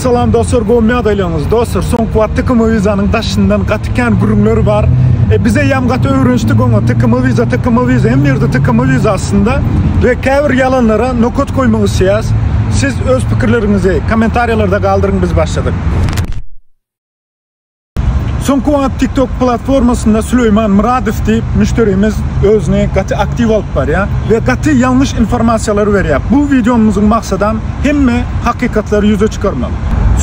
Salam dostlar gowy ýagdaýlaryňyz dostlar soňky wagt tkm wizanyň daşyndan gaty kän gürrüňler bar e biz eýýäm gaty öwrenişdik oňa tkm wiza tkm wiza hemme ýerde tkm wiza aslynda we käbir ýalanlara nokat goýmak isleýäs siz öz pikirleriňizi kommentariýalarda galdyryň biz başladyk. Soňky wagt TikTok platformasynda Süleýman Myradow diýip müşderimiz özüni gaty aktiw alyp barýar we gaty ýalňyş informasiýalary berýär. Bu wideomyzyň maksadam hemme hakykatlary ýüze çykarmak.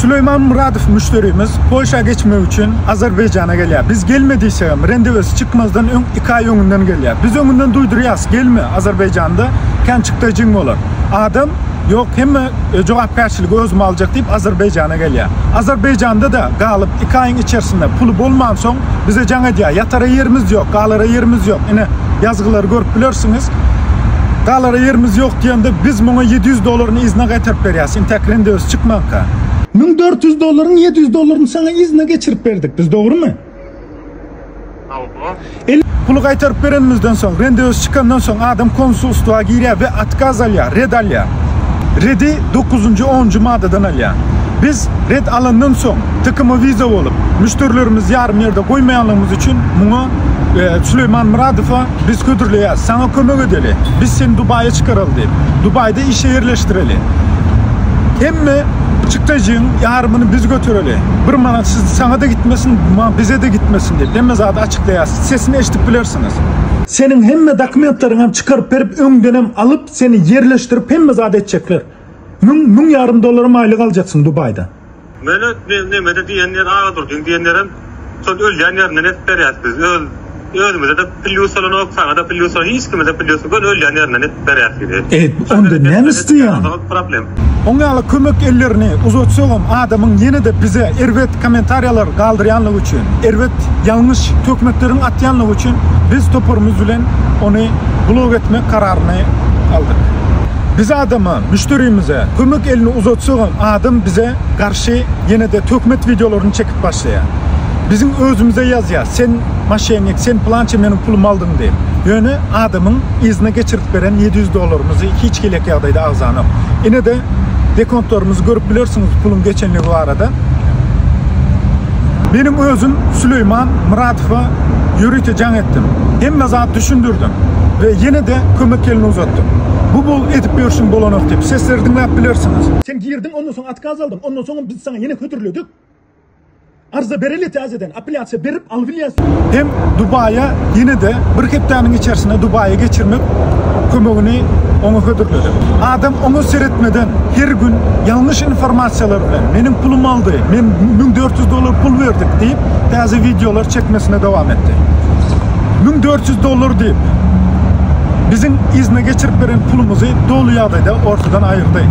Süleýman Myradow müşderimiz Polşa geçmek üçin Azerbaýjana gelýär. Biz gelme diýsegem, rendewesi çykmazdan öň iki aý öňünden gelýär. Biz öňünden duýdurýarys, gelme, Azerbaýjanda känçykda jiň bolar. Adam Ýok, hemme jogapkärçiligi özüme aljak diýip Azerbaýjana gelýär. Azerbaýjanda-da galyp, iki aýyň içersinde puly bolmansoň, bize jaň edýär, ýatara ýerimiz ýok, galara ýerimiz ýok. Ine, ýazgylary görüp bilersiňiz. Galara ýerimiz ýok diýende, biz muňa ýedi ýüz dollaryny yzyna gaýtaryp berýäs, intäk rendewsi çykmanka. Müň dört ýüz dollaryň ýedi ýüz dollaryny saňa yzyna geçirip berdik biz, dogrumy? Elli puly gaýtaryp berenimizden soň, rendewes çykandan soň adam konsulstwa girýär we otkaz alýar, red alýar. Redi dokuzynjy, onunjy maddadan alýar. Biz red alandan soň, TKM Visa bolup, müşderilerimizi ýarym ýerde goýmaýanlygymyz üçin muňa Süleýman Myradowa biz hödürleýäris. Saňa kömek edeli. Biz seni Dubaýa çykaraly diýip. Dubaýda işe ýerleşdireli. Hemme çykdajyň ýarymyny biz götereli. Bir manat siz saňada gitmesin ma bizede gitmesin diýip hemme zady açyklaýas sesini eşdip bilersiňiz. Seniň hemme dokumentleriňem çykaryp berip öňdenem alyp seni ýerleşdirip hemme zady etjekler. Müň müň ýarym dollaram aýlyk aljaksyň dubaýda. Mele nemede diýen ýer Agdurdyň diýen ýerem şol ölýän ýerinden edip berýäs biz öz Özümize-de plýus bolanok, saňa-da plýus bolanok, hiç kime-de plýus ýok, göni ölýän ýerinden edip berýär sizi. Eýt, onda näme isleýäň? Problem. Oň ýaly kömek ellerini uzatsagam adamyň ýene-de bize erbet kommentariýalar galdyrýanlygy üçin, erbet ýalňyş töhmetleriň atýanlygy üçin biz toparymyz bilen ony blok etmek kararyny aldyk. Biz adama, müşderimize kömek elini uzatsagam adam bize garşy ýene-de töhmet wideolaryny çekip aýdyp başlaýar. Biziň özümize ýazýar, sen maşennik, sen pylança meniň pulumy aldyň diýip. Ýöne adamyň yzyna geçirip beren ýedi ýüz dollarymyzy hiç hili-ek ýagdaýda agzanok. Ine-de dekontlarymyzy görüp bilersiňiz puluň geçenligi barada. Meniň özüm Süleýman Myratowa ýörite jaň etdim. Hemme zat düşündirdim we ýene-de kömek elini uzatdym. Bu bul edip ýörşüň bolanok diýip, sesleri diňläp bilersiňiz. Sen girdiň, ondan soň otkaz aldyň, ondan soňam biz saňa ýene hödürledik. Arza bereli täzeden apelýasiýa berip albilýäs. Hem Dubaýa ýene-de bir hepdäniň içersinde Dubaýa geçirmek kömegini oňa hödürledim. Adam oňa seretmeden her gün ýalňyş informasiýalar bilen meniň pulum aldy, men müň dört ýüz dollar pul berdik diýip täze wideolar çekmesine dowam etdi. Müň dört ýüz dollar diýip biziň yzyna geçirip beren pulumyzy doly ýagdaýda ortadan aýyrdy.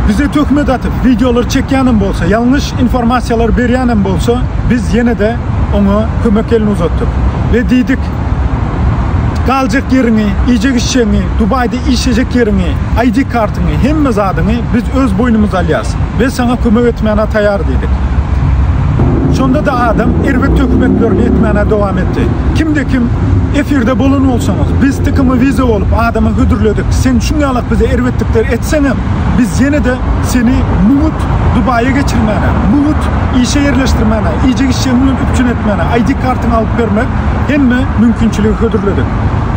Bize töhmet atyp videolar çekýänem bolsa, ýalňyş informasiýalar berýänem bolsa, biz ýene-de oňa kömek elini uzatdyk we diýdik, galjak ýeriňi, iýjek-içjegiňi, Dubaýda işlejek ýeriňi, ID kartyňy, hemme zadyňy biz öz boýnumyza alýas we saňa kömek etmäne taýar diýdik. Şonda-da adam erbet töhmetlerini etmäne dowam etdi. Kimde-kim efirde bolan bolsaňyz, biz TKM Visa bolup adama hödürledik, sen şuňňalak bize erbetlikler etseňem, Biz ýene-de seni muňut Dubaýa geçirmäne, muňut işe ýerleşdirmäne, iýjek-içjegiň bilen üpjün etmäne ID kartyňy alyp bermek hemme mümkinçiligi hödürledik.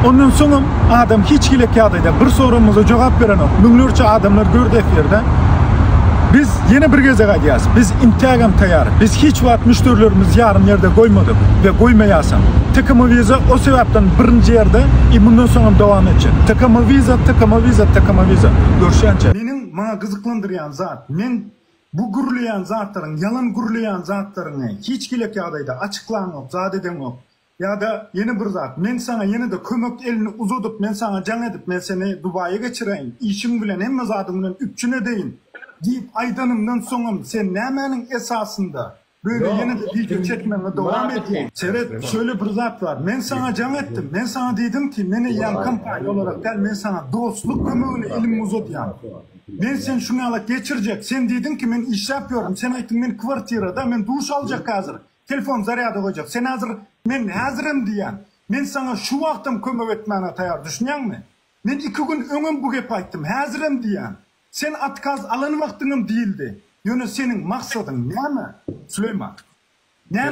Ondan soňam adam hiç hili ýagdaýda bir soragymyza jogap berenok. Müňlerçe adamlar gördi efirde. Biz Ýene bir gezek aýdýarys, biz intägem taýýar. Biz hiç wagt müşderilerimizi ýarym ýerde goýmadyk we goýmaýasam. TKM Visa o sebäpden birinji ýerde i mundan soňam dowam etjek. TKM Visa, TKM Visa, TKM Visa. Görüşýänçä. Meniň maňa gyzyklandyrýan zat, men bu gürleýän zatlaryň, ýalan gürleýän zatlaryňy hiç gilek ýagdaýda açyklaňok, zat edeňok. Ýa-da ýene bir zat, men saňa ýene-de kömek elini uzadyp, men saňa jaň edip, men seni Dubaýa geçireýin, işiň bilen, hemme zadyň bilen üpjün edeýin diýip aýdanymdan soňam, sen nämäniň esasynda böyle ýene-de wideo çekmegiňi dowam edýäň? Seret, şöyle bir zat bar, men saňa jaň etdim, men saňa diýdim ki, men eýýäm kompaniýa olarak däl, men saňa dostluk kömegine elimi uzadýan. Men seni şuňňala geçirjek, sen diýdiň ki, men işläp ýörün, sen aýtdyň, men kwartirada, men duş aljak häzir, Telefon zarýada goýjak. Sen häzir, Men häzirem diýýän. Men saňa şu wagtam kömek etmäne taýar, düşünýäňmi? Men iki gün öňem bu gepi aýtdym, häzirem diýýän. Sen otkaz alan wagtyňam diýildi. Ýöne seniň maksadyň näme, Süleýman? Näme?